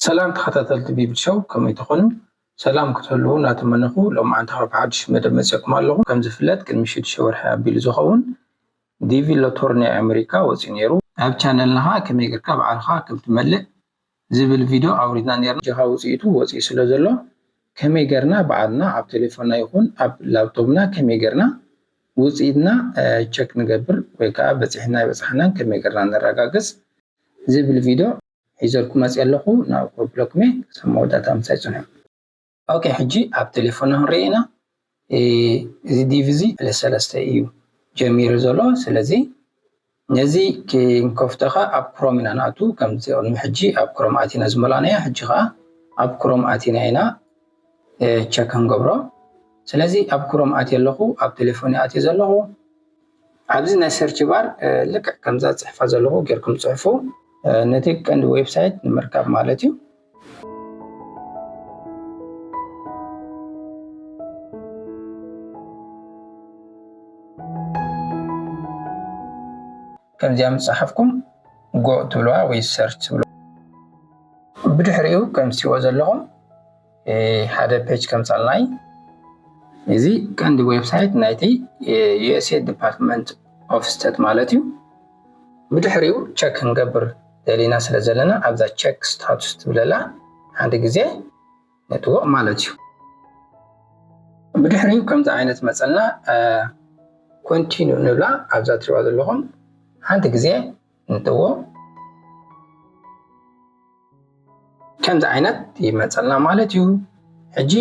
ሰላም ተኸታተልቲ ቢብል ሸው ከመይ ትኾኑ? ሰላም ክትህልዉ እናተመነኹ ሎም መዓንቲ ካብ ሓድሽ መደብ መፅኩም ኣለኹ። ከም ዝፍለጥ ቅድሚ ሽዱሽተ ወርሒ ኣቢሉ ዝኸውን ዲቪ ሎቶሪ ናይ ኣመሪካ ወፂኡ ነይሩ። ኣብ ቻነልና ከዓ ከመይ ጌርካ ባዕልኻ ከም ትመልእ ዝብል ቪድዮ ኣውሪድና ኔርና። ኣጆኻ ውጺኢቱ ወጺኡ ስለ ዘሎ ከመይ ገርና ባዕልና ኣብ ቴሌፎና ይኹን ኣብ ላብቶብና ከመይ ገርና ውጺኢትና ቸክ ንገብር ወይ ከኣ በጺሕና ኣይበጻሕናን ከመይ ገርና ነረጋግጽ ዝብል ቪድዮ ሒዘልኩም መጺኤ ኣለኹ ናብ ኮፕሎክሜ ክሳብ መወዳእታ ምሳይ ጽንሑ። ኦኬ ሕጂ ኣብ ቴሌፎና ክንሪኢ ኢና እዚ ዲቭ እዚ ፕለስ ሰለስተ እዩ ጀሚሩ ዘሎ ስለዚ ነዚ ክንከፍቶ ከዓ ኣብ ክሮም ኢና ንኣቱ ከምዚ ቅድሚ ሕጂ ኣብ ክሮም ኣቲና ዝመላእናዮ ሕጂ ከዓ ኣብ ክሮም ኣቲና ኢና ቸክ ክንገብሮ ስለዚ ኣብ ክሮም ኣትየ ኣለኹ ኣብ ቴሌፎን ኣትየ ዘለኹ ኣብዚ ናይ ሰርች ባር ልክዕ ከምዛ ዝፅሕፋ ዘለኹ ጌርኩም ፅሕፉ ነቲ ቀንዲ ዌብሳይት ንምርካብ ማለት እዩ። ከምዚኣ ምስ ፀሓፍኩም ጎ ትብልዋ ወይ ሰርች ትብልዋ ብድሕሪኡ ከምትሪእዎ ዘለኹም ሓደ ፔጅ ከምፃልናይ እዚ ቀንዲ ዌብሳይት ናይቲ ዩኤስኤድ ዲፓርትመንት ኦፍ ስተት ማለት እዩ ብድሕሪኡ ቸክ ክንገብር ደሊና ስለ ዘለና ኣብዛ ቸክ ስታቱስ ትብለላ ሓደ ግዜ ነትዎ ማለት እዩ ብድሕሪኡ ከምዚ ዓይነት መፀና ኮንቲኑ ንብላ ኣብዛ ትሪዋ ዘለኹም ሓንቲ ግዜ እንትዎ ከምዚ ዓይነት ይመፀልና ማለት እዩ ሕጂ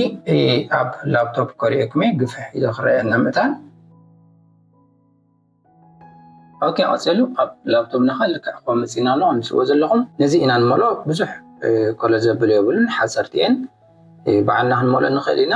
ኣብ ላፕቶፕ ከሪኦክመ ግፍሕ ኢሎ ክረአየና ምእታን ኦኬ ቀፂሉ ኣብ ላፕቶፕ ናኻ ልክዕ ኮ መፂና ኣሎ ኣምስዎ ዘለኹም ነዚ ኢና ንመሎ ብዙሕ ኮሎ ዘብል የብሉን ሓፀርቲ እየን ባዕልና ክንመሎ ንኽእል ኢና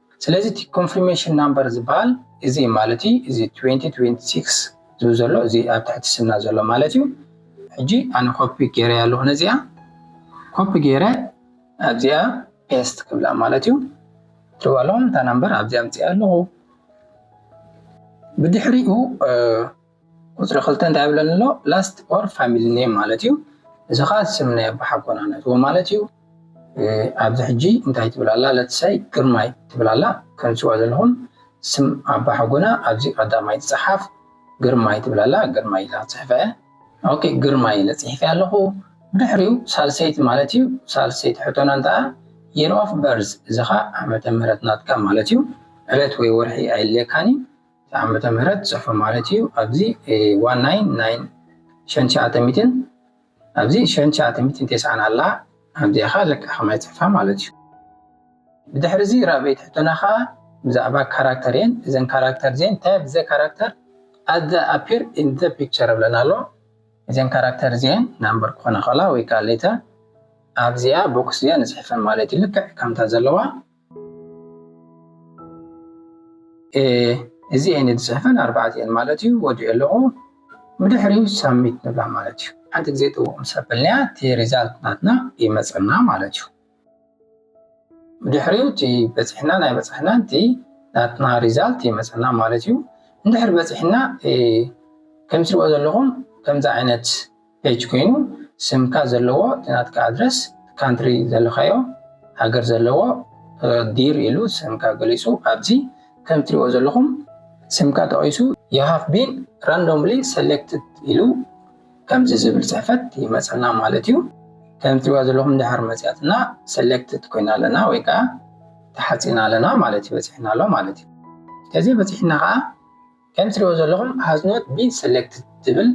ስለዚ እቲ ኮንፍርሜሽን ናምበር ዝበሃል እዚ እዩ ማለት እዩ። እዚ ትዌንቲ ትዌንቲ ሲክስ ዝብል ዘሎ እዚ ኣብ ትሕቲ ስምና ዘሎ ማለት እዩ። ሕጂ ኣነ ኮፒ ገይረያ ኣለኹ ነዚኣ ኮፒ ገይረ ኣብዚኣ ፔስት ክብላ ማለት እዩ። ትሪእዋ ኣለኹም እታ ናምበር ኣብዚኣ ኣምፂኣ ኣለኹ ብድሕሪኡ ቁጽሪ ክልተ እንታይ ይብለኒ ኣሎ last or family name ማለት እዩ እዚ ከዓ ስም ናይ ኣቦሓጎና ነትዎ ማለት እዩ ኣብዚ ሕጂ እንታይ ትብል ኣላ ለትሳይ ግርማይ ትብል ኣላ ከምትስዋ ዘለኹም ስም ኣቦሓጎና ኣብዚ ቀዳማይ ትጽሓፍ ግርማይ ትብል ኣላ ግርማይ ኢላ ጽሕፈ ኦኬ ግርማይ ኢለ ጽሒፈ ኣለኹ ብድሕሪኡ ሳልሰይቲ ማለት እዩ ሳልሰይቲ ሕቶና እንተኣ የር ኦፍ በርዝ እዚ ከዓ ዓመተ ምህረት ናትካ ማለት እዩ ዕለት ወይ ወርሒ ኣይልየካን እዩ ዓመተ ምህረት ጽሑፎ ማለት እዩ ኣብዚ ዋን ናይን ናይን ሸን ሸዓተ ሚትን ኣብዚ ሸን ሸዓተ ሚትን ቴስዓን ኣላ ኣብዚኣ ከዓ ለካ ከማይ ጽሑፋ ማለት እዩ ብድሕሪ እዚ ራብዒት ሕቶና ከዓ ብዛዕባ ካራክተር እየን እዘን ካራክተር እዚን እንታይ ኣብ ዘ ካራክተር ኣዘ ኣፒር ኢን ዘ ፒክቸር ብለን ኣሎ እዘን ካራክተር እዚን ናምበር ክኾነ ከላ ወይ ከዓ ሌተር ኣብዚኣ ቦክስ እዚኣ ንጽሕፈን ማለት እዩ ልክዕ ከምታ ዘለዋ እዚኤን ዝፅሕፈን ኣርባዕቲኤን ማለት እዩ ወዲኦ ኣለኹ ብድሕሪ ሳሚት ንብላ ማለት እዩ ሓንቲ ግዜ ጥውቕ ምስ ኣበልናያ እቲ ሪዛልት ናትና ይመፀና ማለት እዩ ብድሕሪ እቲ በፂሕና ናይ በፃሕና እቲ ናትና ሪዛልት ይመፀና ማለት እዩ እንድሕር በፂሕና ከምትሪኦ ዘለኹም ከምዚ ዓይነት ፔጅ ኮይኑ ስምካ ዘለዎ እቲ ናትካ ኣድረስ እቲ ካንትሪ ዘለካዮ ሃገር ዘለዎ ዲር ኢሉ ስምካ ገሊጹ ኣብዚ ከም ትሪእዎ ዘለኹም ስምካ ጠቂሱ you have been randomly selected ኢሉ ከምዚ ዝብል ጽሕፈት ይመጸና ማለት እዩ ከም ትሪእዋ ዘለኹም ድሕር መጽያትና selected ኮይና ኣለና ወይ ከኣ ተሓጺና ኣለና ማለት እዩ በጺሕና ኣሎ ማለት እዩ ከዚ በጺሕና ከኣ ከም ትሪእዎ ዘለኹም has not been selected ትብል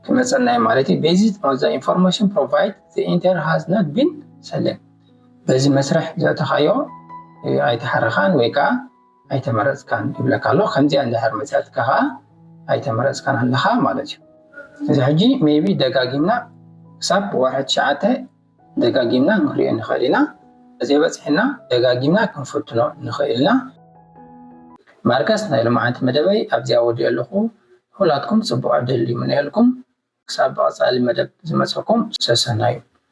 ክመፀና እዩ ማለት እዩ based on the information provide the enter has not been select በዚ መስርሕ ዘእተኻዮ ኣይተሓረኻን ወይ ከዓ ኣይተመረፅካን ይብለካ ኣሎ ከምዚኣ እንድሕር መፅያትካ ከዓ ኣይተመረፅካን ኣለኻ ማለት እዩ እዚ ሕጂ ሜቢ ደጋጊምና ክሳብ ወርሒ ትሽዓተ ደጋጊምና ክንሪኦ ንኽእል ኢና። ተዘይበጺሑና ደጋጊምና ክንፍትኖ ንኽእል ኢና። ማርከስ ናይ ሎምዓንቲ መደበይ ኣብዚ ኣወዲኦ ኣለኹ። ንኹላትኩም ጽቡቕ ዕድል ይምነየልኩም። ክሳብ ብቐጻሊ መደብ ዝመጸኩም ሰሰናዩ።